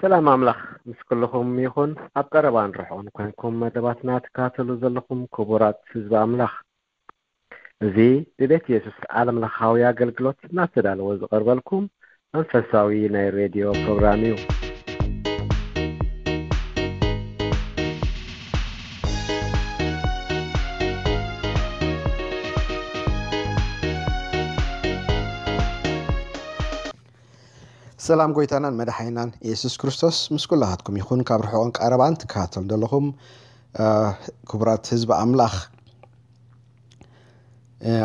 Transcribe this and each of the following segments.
ሰላም ኣምላኽ ምስ ኩልኹም ይኹን ኣብ ቀረባን ርሑቕን ኮንኩም መደባትና ትከታተሉ ዘለኹም ክቡራት ህዝቢ ኣምላኽ እዚ ብቤት የሱስ ዓለም ለኻዊ ኣገልግሎት እናተዳለወ ዝቐርበልኩም መንፈሳዊ ናይ ሬድዮ ፕሮግራም እዩ ሰላም ጎይታናን መድሓኒናን የሱስ ክርስቶስ ምስ ኩላኻትኩም ይኹን ካብ ርሑቕን ቀረባን ትከታተሉ ዘለኹም ክቡራት ህዝቢ ኣምላኽ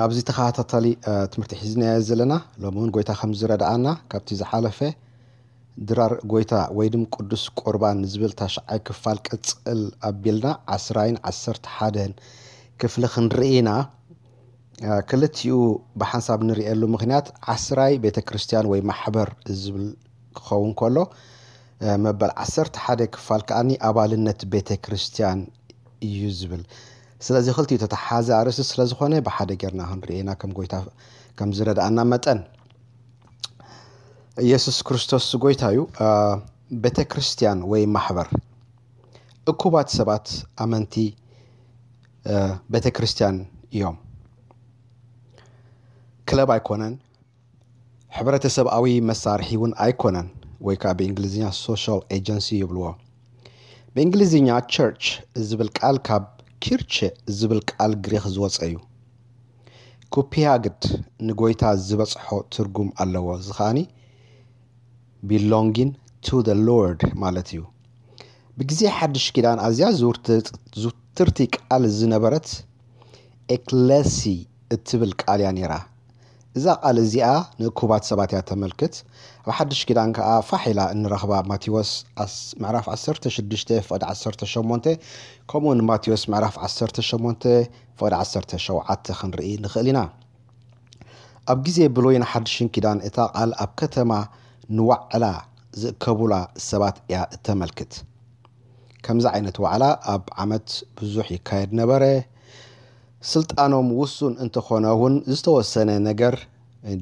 ኣብዚ ተኸታታሊ ትምህርቲ ሒዝናዮ ዘለና ሎሚ እውን ጎይታ ከም ዝረድኣና ካብቲ ዝሓለፈ ድራር ጎይታ ወይ ድም ቅዱስ ቁርባን ዝብል ታሽዓይ ክፋል ቅፅል ኣቢልና ዓስራይን ዓሰርተ ሓደን ክፍሊ ክንርኢ ኢና ክልቲኡ ብሓንሳብ ንርእየሉ ምክንያት ዓስራይ ቤተ ክርስቲያን ወይ ማሕበር ዝብል ክኸውን ከሎ መበል ዓሰርተ ሓደ ክፋል ከዓኒ ኣባልነት ቤተ ክርስቲያን እዩ ዝብል ስለዚ ክልቲኡ ተተሓዘ ኣርእስቲ ስለ ዝኾነ ብሓደ ጌርና ክንርእየና ከም ጎይታ ከም ዝረድኣና መጠን ኢየሱስ ክርስቶስ ጎይታ እዩ ቤተ ክርስቲያን ወይ ማሕበር እኩባት ሰባት ኣመንቲ ቤተ ክርስቲያን እዮም። ክለብ ኣይኮነን፣ ሕብረተሰብኣዊ መሳርሒ እውን ኣይኮነን፣ ወይ ከዓ ብእንግሊዝኛ ሶሻል ኤጀንሲ ይብልዎ። ብእንግሊዝኛ ቸርች ዝብል ቃል ካብ ኪርቸ ዝብል ቃል ግሪኽ ዝወፀ እዩ። ኩፒያግድ ንጎይታ ዝበፅሖ ትርጉም ኣለዎ፣ እዚ ከዓኒ ቢሎንጊን ቱ ዘ ሎርድ ማለት እዩ። ብግዜ ሓድሽ ኪዳን ኣዝያ ዝውትርቲ ቃል ዝነበረት ኤክለሲ እትብል ቃል እያ ነይራ። እዛ ቃል እዚኣ ንእኩባት ሰባት እያ እተመልክት። ኣብ ሓድሽ ኪዳን ከኣ ፋሕ ኢላ እንረኽባ ማቴዎስ ምዕራፍ ዓሰርተ ሽዱሽተ ፍቕዲ ዓሰርተ ሸሞንተ ከምኡውን ማቴዎስ ምዕራፍ ዓሰርተ ሸሞንተ ፍቕዲ ዓሰርተ ሸውዓተ ክንርኢ ንኽእል ኢና። ኣብ ግዜ ብሎይን ሓድሽን ኪዳን እታ ቃል ኣብ ከተማ ንዋዕላ ዝእከቡላ ሰባት እያ እተመልክት። ከምዚ ዓይነት ዋዕላ ኣብ ዓመት ብዙሕ ይካየድ ነበረ፣ ስልጣኖም ውሱን እንተ ኾነ እውን ዝተወሰነ ነገር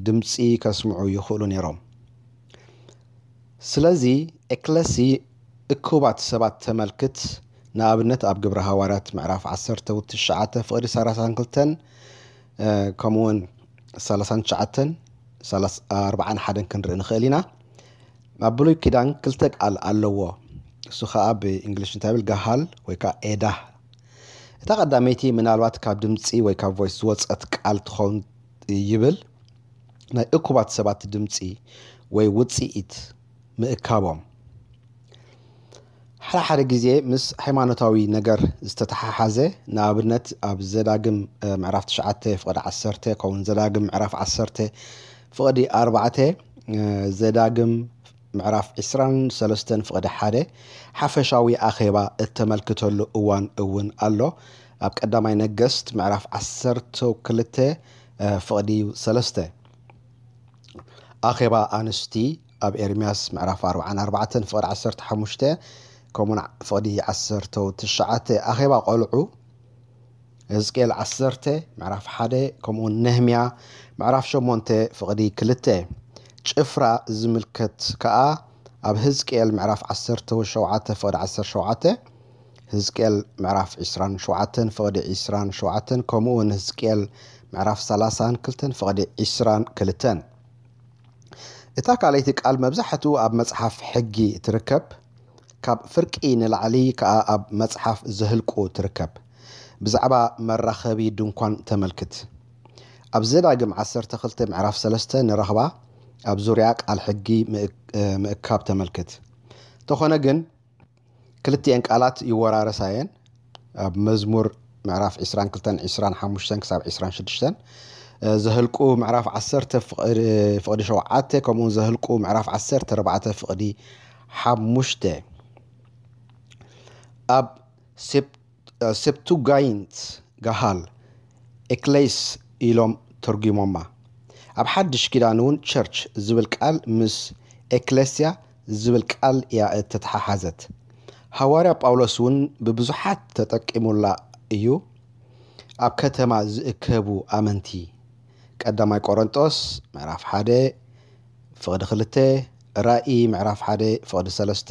ድምጺ ከስምዑ ይኽእሉ ነይሮም። ስለዚ ኤክለሲ እኩባት ሰባት ተመልክት፣ ንኣብነት ኣብ ግብረ ሃዋርያት ምዕራፍ ዓሰርተ ውት ትሽዓተ ፍቕዲ ሰራሳን ክልተን ከምኡ ውን ሰላሳን ትሽዓተን ኣርባዓን ሓደን ክንርኢ ንኽእል ኢና ኣብ ብሉይ ኪዳን ክልተ ቃል ኣለዎ እሱ ከዓ ብእንግሊሽ እንታይ ብል ጋሃል ወይ ከዓ ኤዳህ እታ ቀዳመይቲ ምናልባት ካብ ድምፂ ወይ ካብ ቮይስ ዝወፀት ቃል ትኸውን ይብል ናይ እኩባት ሰባት ድምፂ ወይ ውፅኢት ምእካቦም ሓደ ሓደ ግዜ ምስ ሃይማኖታዊ ነገር ዝተተሓሓዘ ንኣብነት ኣብ ዘዳግም ምዕራፍ ትሽዓተ ፍቕዲ ዓሰርተ ከምኡውን ዘዳግም ምዕራፍ ዓሰርተ ፍቕዲ ኣርባዕተ ዘዳግም ምዕራፍ ዕስራን ሰለስተን ፍቕዲ ሓደ ሓፈሻዊ ኣኼባ እተመልክተሉ እዋን እውን ኣሎ ኣብ ቀዳማይ ነገስት ምዕራፍ ዓሰርተ ክልተ ፍቕዲ ሰለስተ ኣኼባ ኣንስቲ ኣብ ኤርምያስ ምዕራፍ ኣርብዓን ኣርባዕተን ፍቕዲ ዓሰርተ ሓሙሽተ ከምኡውን ፍቕዲ ዓሰርተው ትሽዓተ ኣኼባ ቆልዑ ህዝቅኤል ዓሰርተ ምዕራፍ ሓደ ከምኡውን ነህምያ ምዕራፍ ሸሞንተ ፍቕዲ ክልተ ጭፍራ ዝምልከት ከኣ ኣብ ህዝቅኤል ምዕራፍ ዓሰርተው ሸውዓተ ፍቕዲ ዓሰርተ ሸውዓተ ህዝቅኤል ምዕራፍ ዕስራን ሸውዓተን ፍቕዲ ዕስራን ሸውዓተን ከምኡውን ህዝቅኤል ምዕራፍ ሰላሳን ክልተን ፍቕዲ ዕስራን ክልተን እታ ካልኣይቲ ቃል መብዛሕትኡ ኣብ መጽሓፍ ሕጊ ትርከብ፣ ካብ ፍርቂ ንላዕሊ ከኣ ኣብ መጽሓፍ ዘህልቁ ትርከብ። ብዛዕባ መራኸቢ ድንኳን ተመልክት። ኣብ ዘዳግም ዓሰርተ ክልተ ምዕራፍ ሰለስተ ንረኽባ ኣብ ዙርያ ቃል ሕጊ ምእካብ ተመልክት። እንተኾነ ግን፣ ክልቲኤን ቃላት ይወራረሳ እየን ኣብ መዝሙር ምዕራፍ ዕስራን ክልተን ዕስራን ሓሙሽተን ክሳብ ዕስራን ሽዱሽተን ዘህልቁ ምዕራፍ ዓሰርተ ፍቕዲ ሸውዓተ ከምኡውን ዘህልቁ ምዕራፍ ዓሰርተ ኣርባዕተ ፍቕዲ ሓሙሽተ ኣብ ሰፕቱጋይንት ጋሃል፣ ኤክሌስ ኢሎም ተርጒሞማ። ኣብ ሓድሽ ኪዳን እውን ቸርች ዝብል ቃል ምስ ኤክሌስያ ዝብል ቃል እያ እተተሓሓዘት። ሃዋርያ ጳውሎስ እውን ብብዙሓት ተጠቂሙላ እዩ፣ ኣብ ከተማ ዝእከቡ ኣመንቲ፣ ቀዳማይ ቆረንጦስ ምዕራፍ ሓደ ፍቕዲ ክልተ፣ ራእይ ምዕራፍ ሓደ ፍቕዲ ሰለስተ፣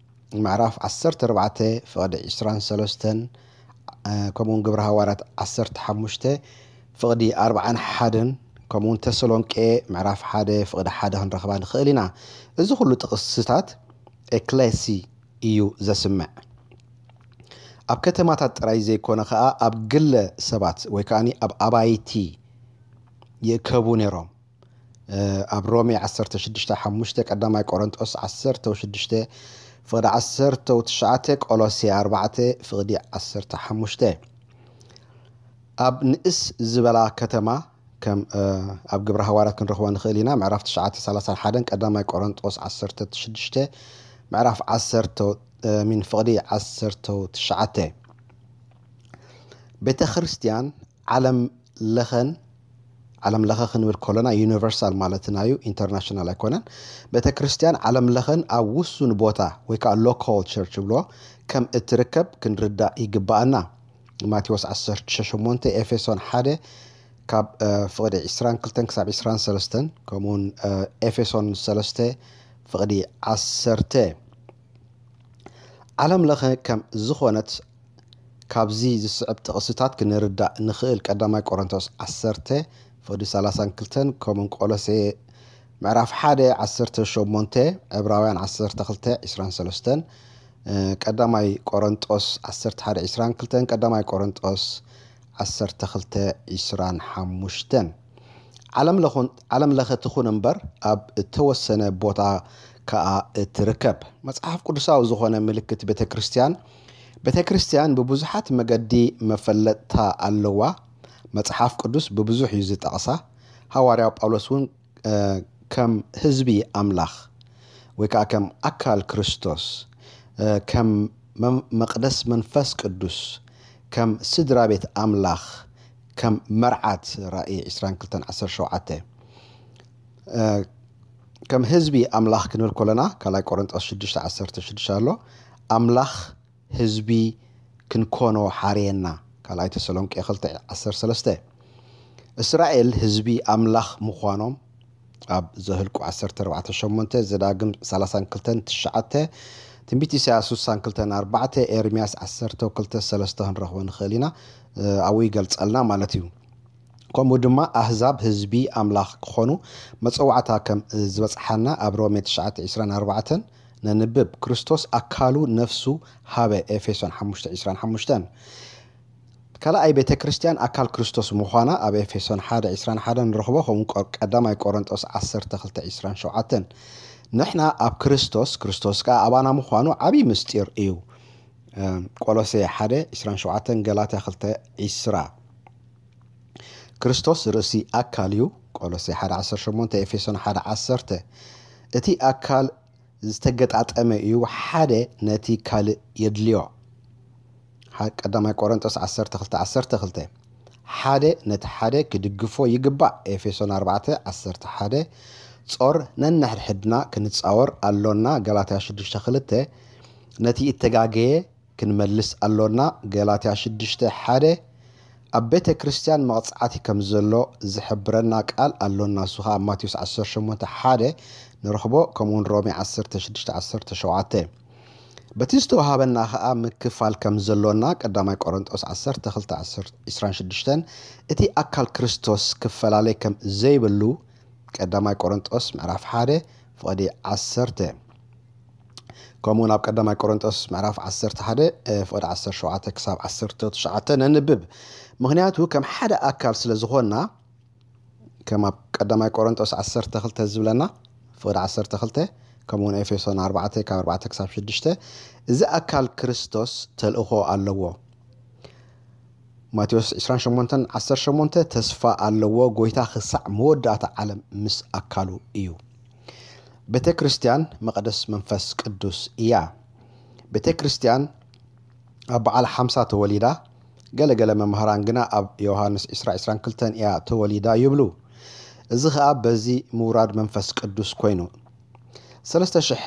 ምዕራፍ ዓሰርተ ኣርባዕተ ፍቕዲ ዕስራን ሰለስተን ከምኡውን ግብሪ ሃዋርያት ዓሰርተ ሓሙሽተ ፍቕዲ ኣርባዓን ሓደን ከምኡውን ተሰሎንቄ ምዕራፍ ሓደ ፍቕዲ ሓደ ክንረኽባ ንኽእል ኢና እዚ ኩሉ ጥቕስታት ኤክሌሲ እዩ ዘስምዕ ኣብ ከተማታት ጥራይ ዘይኮነ ከኣ ኣብ ግለ ሰባት ወይ ከኣ ኣብ ኣባይቲ ይእከቡ ነይሮም ኣብ ሮሜ ዓሰርተ ሽዱሽተ ሓሙሽተ ቀዳማይ ቆሮንጦስ ዓሰርተው ሽዱሽተ ፍቕዲ ዓሰርተው ትሽዓተ ቆሎሴ ኣርባዕተ ፍቕዲ ዓሰርተ ሓሙሽተ ኣብ ንእስ ዝበላ ከተማ ከም ኣብ ግብረ ሃዋርያት ክንረኽቦ ንኽእል ኢና ምዕራፍ ትሽዓተ ሰላሳን ሓደን ቀዳማይ ቆሮንጦስ ዓሰርተ ሽዱሽተ ምዕራፍ ዓሰርተው ሚን ፍቕዲ ዓሰርተው ትሽዓተ ቤተ ክርስቲያን ዓለም ለኸን ዓለም ለኸ ክንብል ከሎና ዩኒቨርሳል ማለትና እዩ፣ ኢንተርናሽናል ኣይኮነን። ቤተ ክርስቲያን ዓለም ለኸን ኣብ ውሱን ቦታ ወይ ከዓ ሎካል ቸርች ብሎ ከም እትርከብ ክንርዳእ ይግባኣና። ማቴዎስ ዓሰርተ ሸሞንተ ኤፌሶን ሓደ ካብ ፍቕዲ ዕስራን ክልተን ክሳብ ዕስራን ሰለስተን ከምኡውን ኤፌሶን ሰለስተ ፍቕዲ ዓሰርተ ዓለም ለኸ ከም ዝኾነት ካብዚ ዝስዕብ ጥቕስታት ክንርዳእ ንኽእል፣ ቀዳማይ ቆሮንቶስ ዓሰርተ ፈዱ ሰላሳን ክልተን ከምኡውን ቆሎሴ ምዕራፍ ሓደ ዓሰርተ ሸሞንተ ዕብራውያን ዓሰርተ ክልተ ዒስራን ሰለስተን ቀዳማይ ቆሮንጦስ ዓሰርተ ሓደ ዒስራን ክልተን ቀዳማይ ቆሮንጦስ ዓሰርተ ክልተ ዒስራን ሓሙሽተን ዓለምለኸ ትኹን እምበር ኣብ እተወሰነ ቦታ ከኣ እትርከብ መጽሓፍ ቅዱሳዊ ዝዀነ ምልክት ቤተ ክርስትያን ቤተ ክርስትያን ብብዙሓት መገዲ መፈለጥታ ኣለዋ። መጽሓፍ ቅዱስ ብብዙሕ እዩ ዝጠቕሳ። ሃዋርያው ጳውሎስ እውን ከም ህዝቢ ኣምላኽ ወይ ከኣ ከም ኣካል ክርስቶስ ከም መቅደስ መንፈስ ቅዱስ ከም ስድራ ቤት ኣምላኽ ከም መርዓት ራኢ ዕስራን ክልተን ዓሰርተ ሸውዓተ ከም ህዝቢ ኣምላኽ ክንብል ኮለና ካልኣይ ቆረንጦስ ሽዱሽተ ዓሰርተ ሽዱሽተ ኣሎ ኣምላኽ ህዝቢ ክንኮኖ ሓርየና ካልኣይ ተሰሎንቄ ክልተ ዓሰርተ ሰለስተ እስራኤል ህዝቢ ኣምላኽ ምዃኖም ኣብ ዘህልቁ ዓሰርተ ኣርባዕተ ሸሞንተ፣ ዘዳግም ሰላሳን ክልተን ትሽዓተ፣ ትንቢት ኢሳያስ ሱሳን ክልተን ኣርባዕተ፣ ኤርምያስ ዓሰርተው ክልተ ሰለስተ ክንረኽቦ ንኽእል ኢና፣ ኣብኡ ይገልጸልና ማለት እዩ። ከምኡ ድማ ኣህዛብ ህዝቢ ኣምላኽ ክኾኑ መጸዋዕታ ከም ዝበጽሓና ኣብ ሮሜ ትሽዓተ ዒስራን ኣርባዕተን ነንብብ። ክርስቶስ ኣካሉ ነፍሱ ሃበ ኤፌሶን ሓሙሽተ ዒስራን ሓሙሽተን። ካልኣይ ቤተ ክርስቲያን ኣካል ክርስቶስ ምዃና ኣብ ኤፌሶን ሓደ ዕስራን ሓደን ንረኽቦ ከምኡ ቀዳማይ ቆረንጦስ ዓሰርተ ክልተ ዕስራን ሸውዓተን ንሕና ኣብ ክርስቶስ ክርስቶስ ከኣ ኣባና ምዃኑ ዓብዪ ምስጢር እዩ ቆሎሴ ሓደ ዕስራን ሸውዓተን ገላትያ ክልተ ዕስራ ክርስቶስ ርእሲ ኣካል እዩ ቆሎሴ ሓደ ዓሰርተ ሸሞንተ ኤፌሶን ሓደ ዓሰርተ እቲ ኣካል ዝተገጣጠመ እዩ ሓደ ነቲ ካልእ የድልዮ ሓ ቀዳማይ ቆረንጦስ ዓሰርተ ክልተ ዓሰርተ ክልተ ሓደ ነቲ ሓደ ክድግፎ ይግባእ ኤፌሶን ኣርባዕተ ዓሰርተ ሓደ ጾር ነንሕድሕድና ክንጻወር ኣሎና ገላትያ ሽዱሽተ ክልተ ነቲ እተጋገየ ክንመልስ ኣሎና ገላትያ ሽዱሽተ ሓደ ኣብ ቤተ ክርስትያን መቕጻዕቲ ከም ዘሎ ዝሕብረና ቃል ኣሎና እሱ ኸኣ ማቴዎስ ዓሰርተ ሸሞንተ ሓደ ንረኽቦ ከምኡውን ሮሜ ዓሰርተ ሽዱሽተ ዓሰርተ ሸውዓተ በቲ ዝተወሃበና ኸኣ ምክፋል ከም ዘሎና፣ ቀዳማይ ቆረንጦስ ዓሰርተ ክልተ ዕስራን ሽዱሽተን፣ እቲ ኣካል ክርስቶስ ክፈላለይ ከም ዘይብሉ፣ ቀዳማይ ቆረንጦስ ምዕራፍ ሓደ ፍቕዲ ዓሰርተ፣ ከምኡውን ኣብ ቀዳማይ ቆረንጦስ ምዕራፍ ዓሰርተ ሓደ ፍቕዲ ዓሰርተ ሸውዓተ ክሳብ ዓሰርተ ትሽዓተ ነንብብ። ምኽንያቱ ከም ሓደ ኣካል ስለ ዝኾንና፣ ከም ኣብ ቀዳማይ ቆረንጦስ ዓሰርተ ክልተ ዝብለና፣ ፍቕዲ ዓሰርተ ክልተ፣ ከምኡውን ኤፌሶን ኣርባዕተ ካብ ኣርባዕተ ክሳብ ሽዱሽተ፣ እዚ ኣካል ክርስቶስ ተልእኾ ኣለዎ። ማቴዎስ ዕስራን ሸሞንተን ዓሰርተ ሸሞንተ ተስፋ ኣለዎ፣ ጎይታ ክሳዕ መወዳእታ ዓለም ምስ ኣካሉ እዩ። ቤተ ክርስቲያን መቐደስ መንፈስ ቅዱስ እያ። ቤተ ክርስቲያን ኣብ በዓል ሓምሳ ተወሊዳ፣ ገለ ገለ መማህራን ግና ኣብ ዮውሃንስ ዕስራ ዕስራን ክልተን ኢያ ተወሊዳ ይብሉ። እዚ ከኣ በዚ ምውራድ መንፈስ ቅዱስ ኮይኑ። ሰለስተ ሽሕ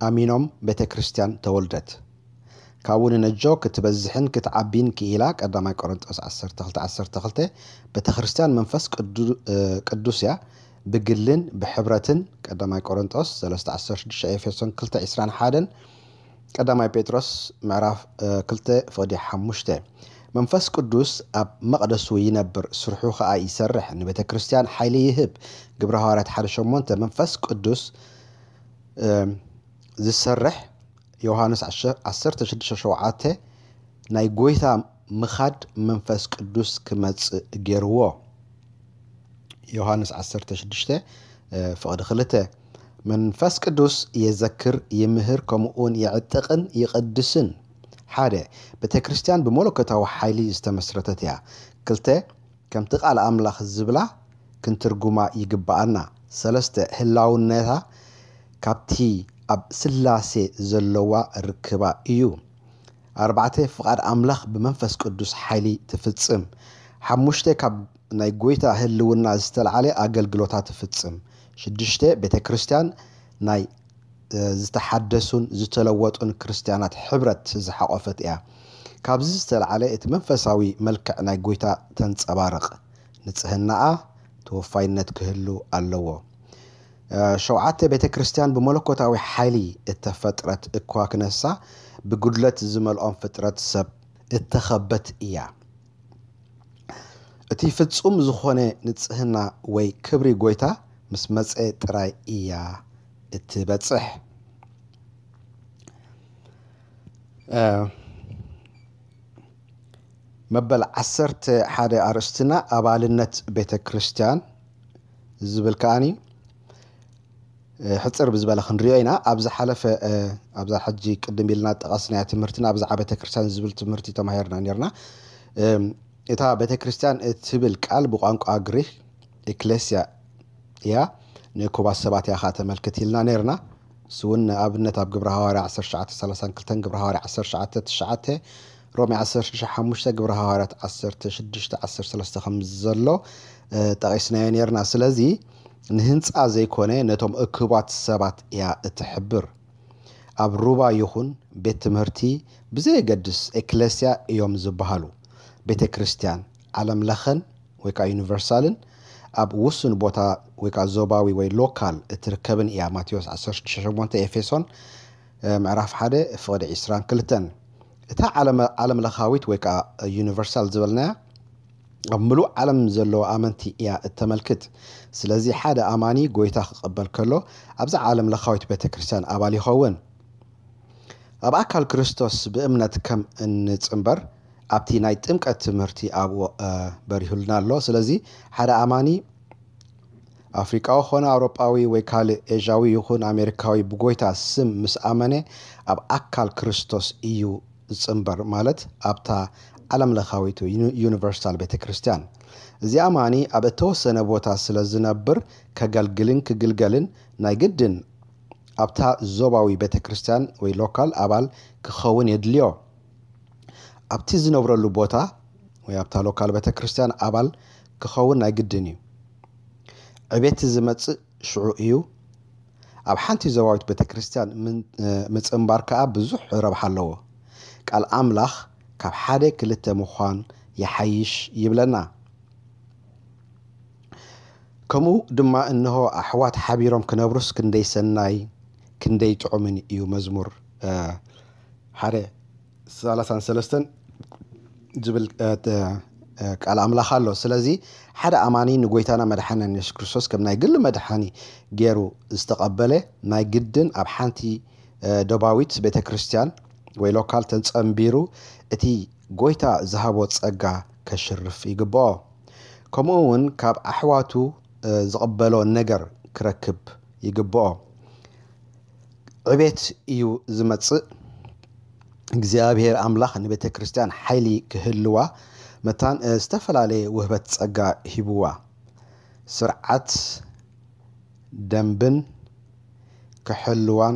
ኣሚኖም ቤተ ክርስቲያን ተወልደት። ካብኡ ንነጆ ክትበዝሕን ክትዓቢን ክኢላ ቀዳማይ ቆረንጦስ ዓሰርተ ክልተ ዓሰርተ ክልተ ቤተ ክርስቲያን መንፈስ ቅዱስ ኢያ ብግልን ብሕብረትን ቀዳማይ ቆረንጦስ ሰለስተ ዓሰርተ ሽዱሽተ ኤፌሶን ክልተ ዕስራን ሓደን ቀዳማይ ጴጥሮስ ምዕራፍ ክልተ ፍቕዲ ሓሙሽተ፣ መንፈስ ቅዱስ ኣብ መቕደሱ ይነብር፣ ስርሑ ኸኣ ይሰርሕ፣ ንቤተ ክርስትያን ሓይሊ ይህብ፣ ግብሪ ሃዋርያት ሓደ ሸሞንተ፣ መንፈስ ቅዱስ ዚሰርሕ፣ ዮሃንስ ዓሰርተ ሽዱሽተ ሸውዓተ፣ ናይ ጐይታ ምኻድ መንፈስ ቅዱስ ክመጽእ ገርዎ። ዮሃንስ ዓሰርተ ሽዱሽተ ፍቕዲ ክልተ መንፈስ ቅዱስ የዘክር፣ ይምህር፣ ከምኡውን የዕጥቕን ይቕድስን። ሓደ ቤተ ክርስቲያን ብመለኮታዊ ሓይሊ ዝተመስረተት እያ። ክልተ ከምቲ ቃል ኣምላኽ ዝብላ ክንትርጉማ ይግብኣና። ሰለስተ ህላውነታ ካብቲ ኣብ ስላሴ ዘለዋ ርክባ እዩ። ኣርባዕተ ፍቓድ ኣምላኽ ብመንፈስ ቅዱስ ሓይሊ ትፍጽም። ሓሙሽተ ካብ ናይ ጐይታ ህልውና ዝተልዓለ ኣገልግሎታ ትፍጽም። ሽዱሽተ ቤተ ክርስቲያን ናይ ዝተሓደሱን ዝተለወጡን ክርስቲያናት ሕብረት ዝሓቖፈት እያ። ካብዚ ዝተልዓለ እቲ መንፈሳዊ መልክዕ ናይ ጐይታ ተንጸባርቕ። ንጽህናኣ ተወፋይነት ክህሉ ኣለዎ። ሸውዓተ ቤተ ክርስቲያን ብመለኮታዊ ሓይሊ እተፈጥረት እኳ ክነሳ፣ ብጕድለት ዝመልኦም ፍጥረት ሰብ እተኸበት እያ። እቲ ፍጹም ዝኾነ ንጽህና ወይ ክብሪ ጐይታ ምስ መጸ ጥራይ እያ እትበጽሕ። መበል ዓሰርተ ሓደ ኣርእስትና ኣባልነት ቤተ ክርስቲያን፣ እዚ ዝብል ከዓኒ ሕፅር ብዝበለ ክንሪኦ ኢና ኣብ ዝሓለፈ ኣብዛ ሕጂ ቅድም ኢልና ጠቐስናያ ትምህርትና ብዛዕባ ቤተ ክርስቲያን ዝብል ትምህርቲ ተማሂርና ነርና እታ ቤተ ክርስቲያን እትብል ቃል ብቋንቋ ግሪክ ኤክሌስያ እያ ንእኩባት ሰባት እያ ከዓ ተመልክት ኢልና ነርና ንሱውን ንኣብነት ኣብ ግብረ ሃዋርያ ዓሰርተ ትሽዓተ ሰላሳን ክልተን ግብረ ሃዋርያ ዓሰርተ ትሽዓተ ትሽዓተ ሮሜ ዓሰርተ ሽዱሽተ ሓሙሽተ ግብረ ሃዋርያት ዓሰርተ ሽዱሽተ ዓሰርተ ሰለስተ ከም ዘሎ ጠቒስናዮ ነርና ስለዚ ንህንፃ ዘይኮነ ነቶም እክባት ሰባት እያ እትሕብር ኣብ ሩባ ይኹን ቤት ትምህርቲ ብዘየገድስ ኤክለስያ እዮም ዝበሃሉ ቤተ ክርስቲያን ዓለም ለኸን ወይ ከኣ ዩኒቨርሳልን ኣብ ውሱን ቦታ ወይ ከኣ ዞባዊ ወይ ሎካል እትርከብን እያ ማቴዎስ ዓሰርተ ሽዱሽተ ሸሞንተ ኤፌሶን ምዕራፍ ሓደ ፍቕዲ ዒስራን ክልተን እታ ዓለም ለኻዊት ወይ ከኣ ዩኒቨርሳል ዝበልናያ ኣብ ምሉእ ዓለም ዘለዉ ኣመንቲ እያ እተመልክት ስለዚ ሓደ ኣማኒ ጎይታ ክቐበል ከሎ ኣብዛ ዓለም ለኻዊት ቤተ ክርስቲያን ኣባል ይኸውን ኣብ ኣካል ክርስቶስ ብእምነት ከም እንጽምበር ኣብቲ ናይ ጥምቀት ትምህርቲ ኣብኡ በሪሁልና ኣሎ ስለዚ ሓደ ኣማኒ ኣፍሪቃዊ ኮነ ኣውሮጳዊ ወይ ካልእ ኤዥያዊ ይኹን ኣሜሪካዊ ብጎይታ ስም ምስ ኣመነ ኣብ ኣካል ክርስቶስ እዩ ዝጽንበር ማለት ኣብታ ዓለም ለኻዊት ዩኒቨርሳል ቤተክርስትያን እዚ ኣማኒ ኣብ እተወሰነ ቦታ ስለ ዝነብር ከገልግልን ክግልገልን ናይ ግድን ኣብታ ዞባዊ ቤተክርስትያን ወይ ሎካል ኣባል ክኸውን የድልዮ። ኣብቲ ዝነብረሉ ቦታ ወይ ኣብታ ሎካል ቤተክርስትያን ኣባል ክኸውን ናይ ግድን እዩ። ዕቤት ዝመጽእ ሽዑ እዩ። ኣብ ሓንቲ ዞባዊት ቤተክርስትያን ምጽንባር ከኣ ብዙሕ ረብሓ ኣለዎ። ቃል ኣምላኽ ካብ ሓደ ክልተ ምዃን ይሓይሽ ይብለና። ከምኡ ድማ እንሆ ኣሕዋት ሓቢሮም ክነብሩስ ክንደይ ሰናይ ክንደይ ጥዑምን እዩ መዝሙር ሓደ ሰላሳን ሰለስተን ዝብል ቃል ኣምላኽ ኣሎ ስለዚ ሓደ ኣማኒ ንጎይታና መድሓኒን የሱስ ክርስቶስ ከም ናይ ግሊ መድሓኒ ገይሩ ዝተቐበለ ናይ ግድን ኣብ ሓንቲ ዶባዊት ቤተ ክርስቲያን ወይ ሎካል ተጸንቢሩ እቲ ጎይታ ዝሃቦ ጸጋ ከሽርፍ ይግብኦ ከምኡ እውን ካብ ኣሕዋቱ ዝቕበሎ ነገር ክረክብ ይግብኦ ዕቤት እዩ ዝመጽእ። እግዚኣብሔር ኣምላኽ ንቤተ ክርስቲያን ሓይሊ ክህልዋ መታን ዝተፈላለየ ውህበት ጸጋ ሂብዋ ስርዓት ደንብን ክሕልዋን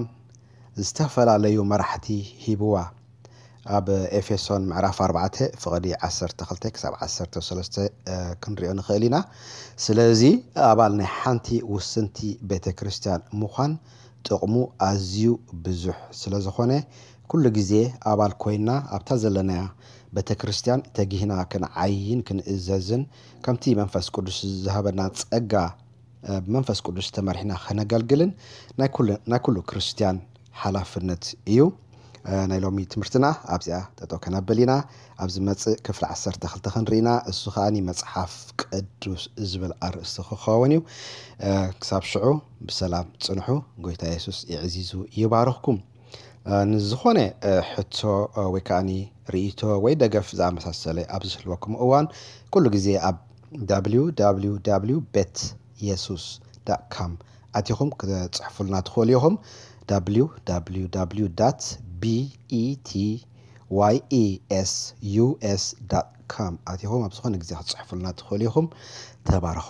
ዝተፈላለዩ መራሕቲ ሂብዋ። ኣብ ኤፌሶን ምዕራፍ ኣርባዕተ ፍቕዲ ዓሰርተ ክልተ ክሳብ ዓሰርተ ሰለስተ ክንሪኦ ንኽእል ኢና። ስለዚ ኣባል ናይ ሓንቲ ውስንቲ ቤተ ክርስቲያን ምዃን ጥቕሙ ኣዝዩ ብዙሕ ስለ ዝኾነ ኩሉ ግዜ ኣባል ኮይና ኣብታ ዘለናያ ቤተ ክርስቲያን ተጊህና ክንዓይን ክንእዘዝን ከምቲ መንፈስ ቅዱስ ዝሃበና ጸጋ ብመንፈስ ቅዱስ ተመሪሕና ከነገልግልን ናይ ኩሉ ክርስትያን ሓላፍነት እዩ። ናይ ሎሚ ትምህርትና ኣብዚኣ ጠጠው ከነብል ኢና። ኣብ ዝመጽእ ክፍሊ ዓሰርተ ክልተ ክንርኢ ኢና። እሱ ከኣ መጽሓፍ ቅዱስ ዝብል ኣርእስቲ ክኸውን እዩ። ክሳብ ሽዑ ብሰላም ጽንሑ። ጎይታ የሱስ የዕዚዙ ይባርኽኩም። ንዝኾነ ሕቶ ወይ ከኣኒ ርእይቶ ወይ ደገፍ ዝኣመሳሰለ ኣብ ዝህልወኩም እዋን ኩሉ ግዜ ኣብ www bet yesus com ኣቲኹም ክትጽሕፉልና ትኽእሉ ኢኹም www betyes com ኣቲኹም ኣብ ዝኾነ ግዜ ክትጽሕፉልና ትኽእሉ ኢኹም ተባረኹ።